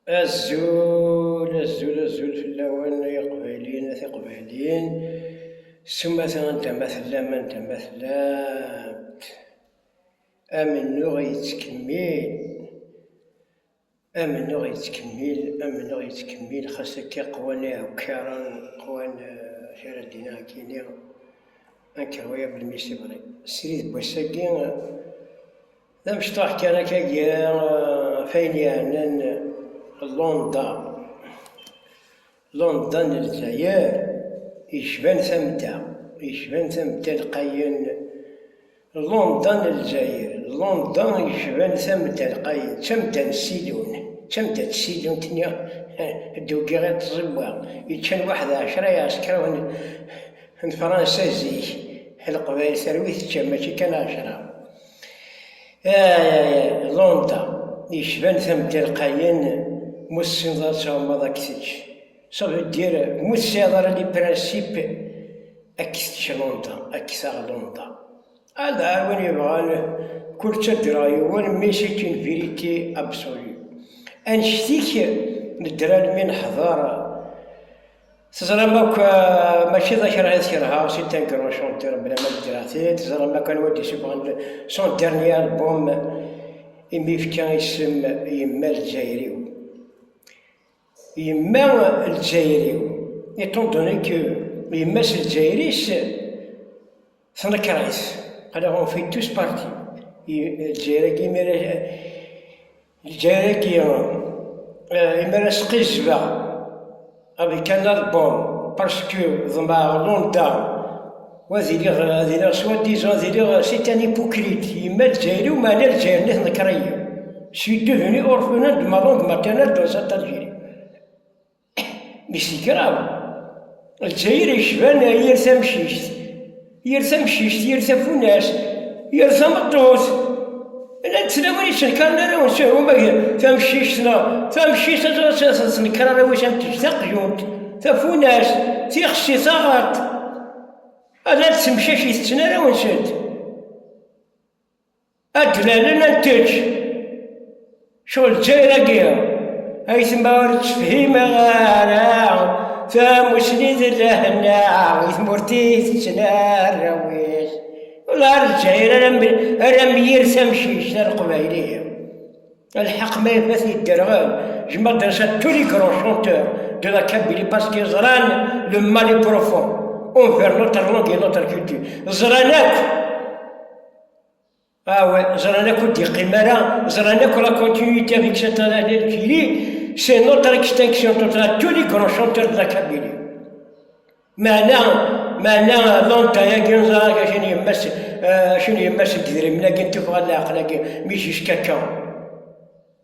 Azul, azul, azul fell-awen ay iqbayliyen, a tiqbayliyin, s umata anda ma tellam, anda ma tellamt. Amennuɣ yettkemmil, amennuɣ yettkemmil, amennuɣ yettkemmil, xas akka qwan iɛukkaren, qwan kra eh, d-iniɣ akka iniɣ, ankerwa-ya belmi s ibri. Srid n wass-agi, D amecṭuḥ kan akka gar ɣef ayen yeɛnan Londda. Londda n Lezzayer yecban tamda, yecban tamda lqayen. Londda n Lezzayer, Londda yecban tamda lqayen, d tamda n Sidun, d tamda n tsidunt-nni d-ugiɣ i tẓiwa, yeččan waḥed ɛecra iɛeskaṛen n Fransa zik, Leqbayel terwi tečča, mačči kan ɛecra. Londres yecban tametti lqayen mu tessineḍ ad tɛummeḍ ad k-tečč. Ça veut dire mu tesɛiḍ ara les principes ad k-tečč Londres, ad k-taɣ Londres. Ad ar win yebɣan kul ttaǧǧreɣ yiwen mais c'est une vérité absolue. Annect-ik nedder almi neḥḍer Teẓram akk mačči d akṛah i t-kerheɣ, si Tangerwa Chanteur bla ma d-ddreɣ-t-id, teẓram akk anwa d-isuffɣen son dernier album imi yefka isem Yemma Lezzayer-iw. Yemma Lezzayer-iw, étant donné que yemma-s Lezzayer-is, Tanakaris, ala ɣef itus parti, lǧayr-agi imir lǧayr-agi imir asqizbeɣ, avec un album, parce que ḍemɛeɣ London, wa ad iliɣ ad iliɣ soi-disant ad iliɣ c'est un hypocrite, yemma lǧayr-iw meɛna lǧayr-nni tenker-iyi, je suis devenu orphelin de ma langue maternelle dans cette Algérie. Mis n kraḍ, Lezzayer yecban yir tamcict, yir tamcict, yir tafunast, yir tameṭṭut. Llant tlawin yettenkaren arraw n Sihru ma tamcict neɣ tamcict ad tettenkar arraw-is am tejj taqjunt, tafunast, tixsi, taɣaṭ. Ad d-temcac itetten arraw-nsent. Adlalen ad tečč. Cɣel Lezzayer-agi ay tma ur tefhim ara tamusni d lehna i tmurt-i tettnarraw-it. Wala ar Lezzayer ara myir tamcict ar Qbayli. Lḥeq ma ifat yedderɣel. Je m'adresse à tous les grands chanteurs de la Kabylie parce qu'ils ẓran le mal est profond envers notre langue et notre culture. Ẓran akk Awe, ẓran akk ur d-yeqqim ara, ẓran akk la continuité avec cette analyse qui dit c'est notre extinction totale, tous les grands chanteurs de la Kabylie. Meɛna, meɛna lanta-agi ẓrak acini yemma-s, acini yemma-s n yidrimen-agi n tuffɣa n leɛqel-agi, mi jiskačča.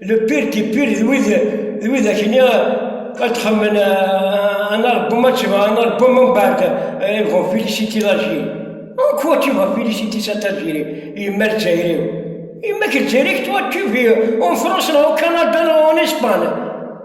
le pire qui pire d wid d wid akni ad txemmen un album ma tebɣa un album mbeɛd ils vont féliciter l'Algérie en quoi tu vas féliciter cette Algérie yemma Lezzayer yemma-k Lezzayer toi tu vis en France neɣ au Canada neɣ en Espagne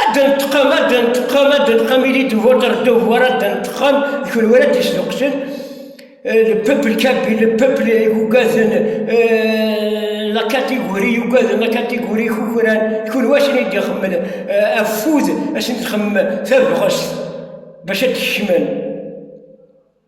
ad d-nteqqam ad d-nteqqam ad d-nteqqam ili de votre devoir ad d-nteqqam d kunwi ara d-yesduqsen le peuple kabyle le peuple yugaden la catégorie yugaden la catégorie kukran d kunwi asen i d-ixemmen afud asen d-xemmen tabɣest bac ad d-kecmen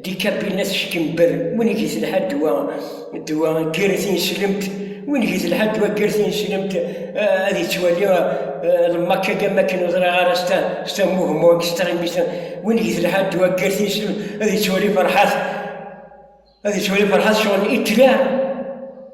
Dikapina teckenber, win i getelḥa ddwa, ddwa ger tineslemt, win i getelḥa ddwa ger tineslemt, eh, ad yettwali eh, lmakka gam akken ur ḍriɣ ara s ta- s tamuhmu extremist, win i getelḥa ddwa ger tineslemt, ad yettwali ferḥat, ad yettwali ferḥat sɣur n Hitler.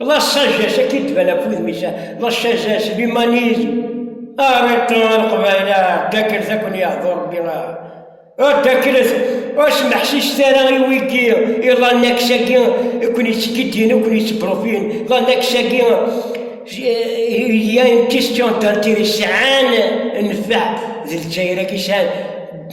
La sagesse akka i d-tban ɣef wudem-is, la sagesse, l'humanisme. Arrêtons a Leqbayel, a Ddakklet ad ken-yeḥḍu Rebbi, a Ddakklet ur smeḥsiset ara i wigi i l'annexe-agi i ken-yettkiddin, i ken-yettbrufin, l'annexe-agi il y a une question d'intérêt sɛan nnfeɛ d Lezzayer-agi sɛan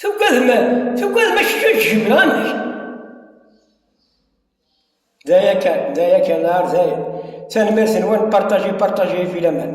Tugadem, tugadem ad k-ǧǧemen amek? D aya kan, d aya kan, ar d aya. Tanemmirt-nwen, partager, partager, filaman.